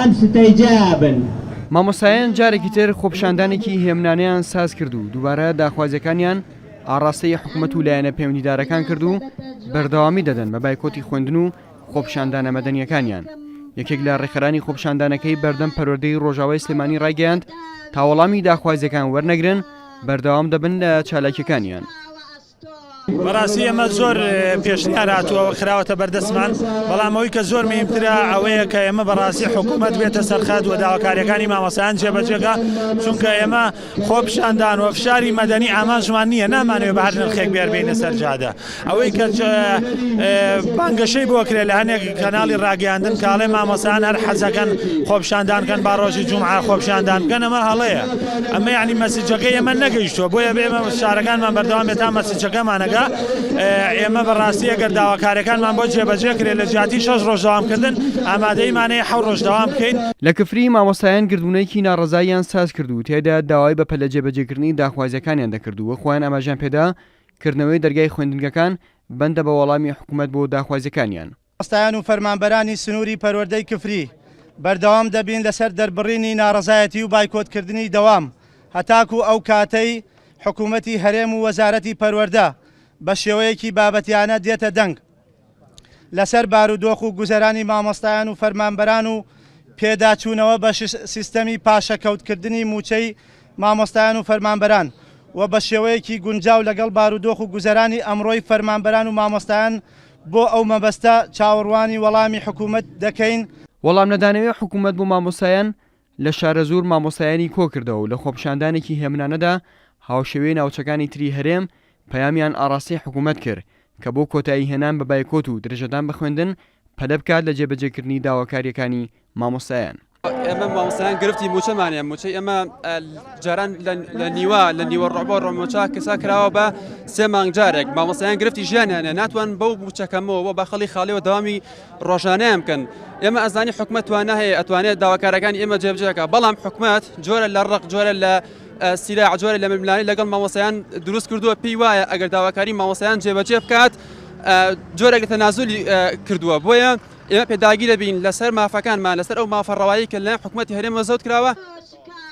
ئەم ستەی جا بن. مامۆستایان جارێکی تر خۆپیشاندانێکی هێمنانەیان سازکرد و دووبارە داخوازیەکانیان ئاڕاستەی حکومەت و لایەنە پەیوەندیدارەکان کرد و بەردەوامی دەدەن بە بایکۆتی خوێندن و خۆپیشاندانە مەدەنیەکانیان یەکێک لە ڕێکخەرانی خۆپیشاندانەکەی بەردەم پەروەردەی ڕۆژاوای سلێمانی ڕایگەیاند تاوەڵامی داخوازیەکان وەرنەگرن بەردەوام دەبن لە چالاکیەکانیان. بەڕاستی ئێمە زۆر پێشنیار هاتووە خراوەتە بەردەستمان بەڵام ئەوی کە زۆر مهمترە ئەوەیە کە ئێمە بەڕاستی حکوومەت بێتە سەرخەت و داواکاریەکانی مامەسان جێبەجێگا چونکە ئێمە خۆ پیشاندان و فشاری مەدەنی ئامانجمان نییە نامانوێ بەهر نرخێک بێربینە سەرجادە ئەوەی کە بانگەشەی بۆ کرێ لە هەنێک کەناڵی ڕاگەیاندن کاڵێ مامەسان هەر حەزەکەن خۆپشاندانکەن باڕۆژی جمعە خۆپشاندان بکەنەوە هەڵەیە. ئەمە یەعنی مەسجەکەی ئێمە نەگەیشتووە بۆیە بێمە شارەکانمان بەردەوام بێت تا مەسجەکەمانەگا ئێمە بەڕاستی ئەگەر داواکارەکانمان بۆ جێبەجێ کرێ لە جیاتی شەش ڕۆژ داوامکردن ئامادەیمانەیە حەو ڕۆژ داوام بکەین. لە کفری، مامۆستایان گردوونەیەکی ناڕەزاییان ساز کرد و تیایدا داوای بە پەلە جێبەجێکردنی داخوازیەکانیان دەکرد و خۆیان ئاماژەیان پێدا کردنەوەی دەرگای خوێندنگەکان بەندە بە وەڵامی حکومەت بۆ داخوازیەکانیان. مامۆستایان و فەرمانبەرانی سنووری پەروەردەی کفری بەردەوام دەبین لەسەر دەربڕینی ناڕەزایەتی و بایکۆتکردنی دەوام هەتاکوو ئەو کاتەی حکوومەتی هەرێم و وەزارەتی پەروەردە بە شێوەیەکی بابەتیانە دێتە دەنگ لەسەر بارودۆخ و گوزەرانی مامۆستایان و فەرمانبەران و پێداچوونەوە بە سیستەمی پاشەکەوتکردنی مووچەی مامۆستایان و فەرمانبەران و بە شێوەیەکی گونجاو لەگەڵ بارودۆخ و گوزەرانی ئەمڕۆی فەرمانبەران و مامۆستایان بۆ ئەو مەبەستە چاوەڕوانی وەڵامی حکوومەت دەکەین. وەڵام نەدانەوەی حکوومەت بۆ مامۆستایان، لە شارەزوور مامۆستایانی کۆ کردەوە و لە خۆپیشاندانێکی هێمنانەدا هاوشێوەی ناوچەکانی تری هەرێم پەیامیان ئاڕاستەی حکوومەت کرد کە بۆ کۆتایی هێنان بە بایکۆت و درێژەدان بە خوێندن پەلە بکات لە جێبەجێکردنی داواکارییەکانی مامۆستایان. ئێمە مامۆستایان گرفتی موچەمانە موچەی ئێمە جاران لە نیوە لە نیوە ڕۆبۆ ڕۆمۆچا کەسا کراوە بە سێ مانگ جارێک مامۆستایان گرفتی ژیانیانە ناتوان بەو موچەکەمەوە بە خەڵی خاڵەوە داوامی ڕۆژانیان بکەن ئێمە ئەزانی حکومەتوانە هەیە ئەتوانێت داواکارەکانی ئێمە جێبجێکە بەڵام حکومت جۆرە لە ڕق جۆرە لە سیرا جۆرە لە ململانی لەگەڵ مامۆسایان دروست کردووە پێی وایە ئەگەر داواکاری مامۆسایان جێبەجێ بکات جۆرەگە تەنازولی کردووە بۆیە ئێمە پێداگیرە بین لەسەر مافەکانمان، لەسەر ئەو مافە ڕەوایەی کە لەلایەن حکومەتی هەرێمەوە زەوت کراوە.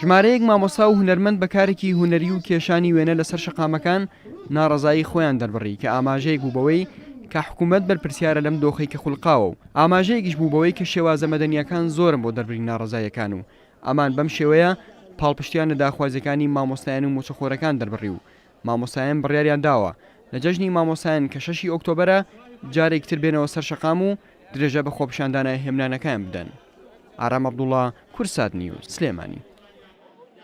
ژمارەیەک مامۆستا و هونەرمەند بە کارێکی هونەری و کێشانی وێنە لەسەر شەقامەکان ناڕەزایی خۆیان دەربڕی کە ئاماژەیەک بوو بەوەی کە حکومەت بەرپرسیارە لەم دۆخەی کە خولقاوە و ئاماژەیەکیش بوو بەوەی کە شێوازە مەدەنییەکان زۆرن بۆ دەربرین ناڕەزاییەکان و ئەمان بەم شێوەیە پاڵپشتیان لە داخوازیەکانی مامۆستایان و موچەخۆرەکان دەربڕی و مامۆستایان بڕیاریان داوە لە جەژنی مامۆستایان کە شەشی ئۆکتۆبەرە جارێکی تر بێنەوە سەر شەقام و درێژە بە خۆپیشاندانە هێمنانەکایان بدەن ئارام عەبدوڵا کورسات نیوز سلێمانی.